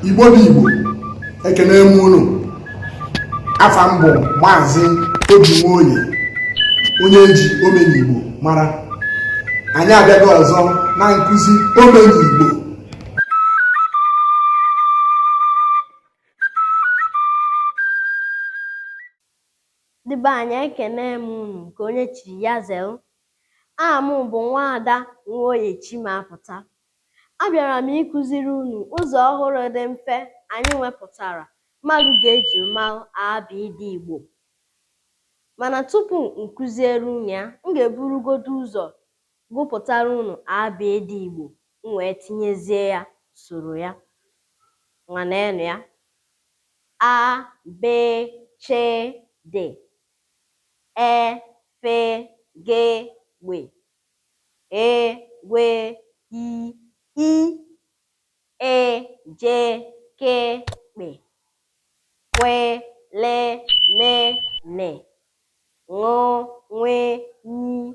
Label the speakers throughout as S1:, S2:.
S1: igbo bụ igbo ekene m unu afa m bụ maazị obi nwoye onye eji omenigbo mara anyị abịago ọzọ na nkụzi omenigbo
S2: ndị be anyị ekene m unu nke onye chiri ya zelu aha m bụ nwaada nwoye chimapụta abịara m ịkụziri unu ụzọ ọhụrụ dị mfe anyị wepụtara mmadụ ga-eji malụ abịịdịị igbo mana tupu m kụziere unu ya m ga-eburugodo ụzọ gụpụtara unu abịịdịị Igbo m wee tinyezie ya usoro ya. Ngwa neenụ ya. A, B, Ch, D, E, F, G, Gbe, Ghe, Gwe, I, I, Ị, Je, Ke, Kpe, Kwe, Le, Me, Ne, Ṅụ, Nwe, Nyi,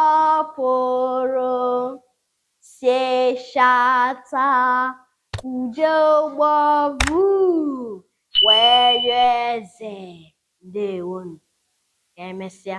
S2: Ọ pụrụ seshata ude ụgbọ vuu wee yọọ eze ndewonu. Ka emesịa.